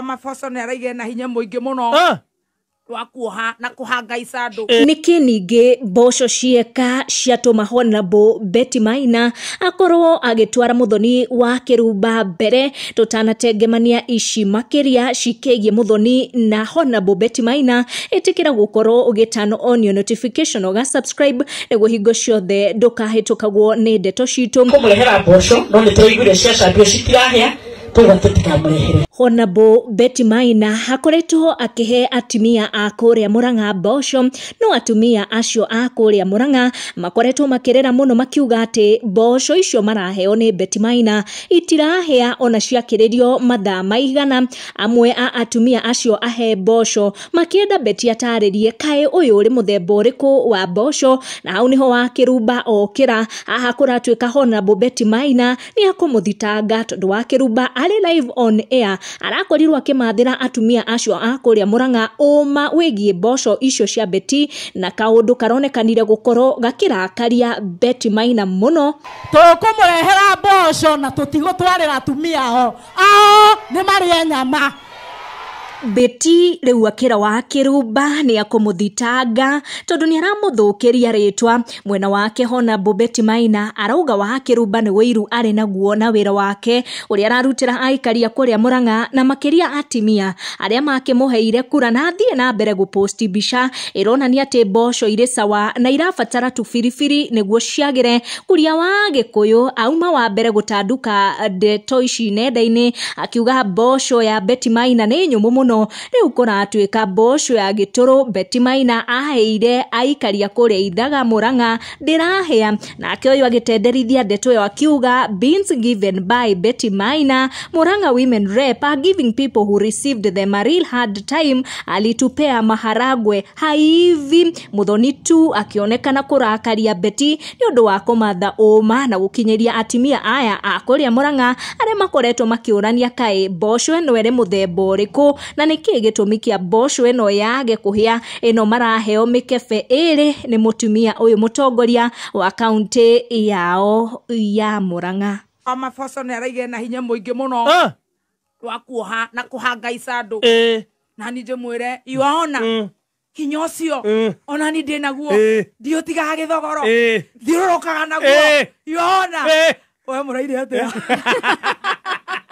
Maboco nĩ araigire na hinya mũingĩ mũno Ah, wa kuoha na kũhanga icandũ. nĩkĩ ningĩ mboco cieka ciatũma honabo beti maina akorwo agĩtwara mũthoni wa kĩrumba mbere tũtanatengemania ici makĩria cikĩgiĩ mũthoni na honabo beti maina ĩtĩkĩra gũkorwo ũgĩtano onio notification ũga subscribe nĩguo hingo ciothe ndũkahĩtũkagwo nĩ ndeto citũ kũmũrehera mboco no nĩ tũraiguire ciacambio citirahĩa koguo atĩ ndikamũrehere Honorable Betty Maina akoretwo akĩhe atumia a kũrĩa Murang'a mboco no atumia acio a kũrĩa Murang'a makoretwo makĩrĩra mũno makiuga atĩ mboco icio maraheo nĩ Betty Maina itirahĩa ona ciakĩrĩrio mathaa maigana amwe a atumia acio ahe mboco makĩenda Betty atarĩrie kaĩ ũyũ ũrĩ mũthemba ũrĩkũ wa mboco na hau nĩho wakĩrumba okĩra haha kũratuĩka Honorable Betty Maina nĩ ekũmũthitanga tondũ wa kĩrumba arĩ live on air arakorirwo akĩmathĩra atumia acio a kũrĩa mũrang'a ũma wĩgiĩ mboco icio cia beti na kaũndũ karonekanire gũkorwo gakĩrakaria beti maina mũno tũkũmũrehera mboco na tũtigũtwarĩra atumia ao ao nĩ marĩe nyama beti rĩu akĩra wa kĩrumba nĩ akũmũthitanga tondũ nĩ aramũthũkĩria rĩtwa mwena wake hona bobeti maina arauga wa kĩrumba nĩ wĩiru arĩ naguo na wĩra wake ũrĩa ararutĩra aikaria kũrĩa mũrang'a na makĩria atimia arĩa makĩmũheire kura na athiĩ na mbere gũposti mbica ĩronania atĩ mboco irĩ sawa na irabatara tũbiribiri nĩguo ciagĩre mũtongoria wa gĩkũyũ auma wa mbere gũtanduka ndeto ici nenda-inĩ akiuga mboco ya Betty Maina nĩ nyũmũ mũno rĩu kũratuĩka mboco ya gĩtũrũ Betty Maina aheire aikaria kũrĩa ithaga mũrang'a ndĩrahĩa nake ũyũ agĩtenderithia ndeto ĩyo akiuga beans given by Betty Maina mũrang'a women rep are giving people who received them a real hard time alitupea maharagwe Haivi mũthoni tu akĩonekana kũrakaria Beti nĩ ũndũ wa kũmatha ũma na gũkinyĩria atimia aya a kũrĩa Mũrang'a arĩa makoretwo makĩũrania kaĩ mboco ĩno ĩrĩ mũthemba ũrĩkũ na nĩ kĩĩ gĩtũmi kĩa mboco ĩno yage kũhĩa ĩno maraheo mĩkebe ĩrĩ nĩ mũtumia ũyũ mũtongoria wa kaunti yao ya Mũrang'a. Mama Foso nä araigä na hinya må ingä må no. rwa kuoha na kuhangaica andu Eh, nani njimwire iwaona mm, hinya ucio mm, onani ndi naguo Eh. ndiutigaga githogoro eh, thiururukaga naguo Eh. iwaona eh. we muraire atia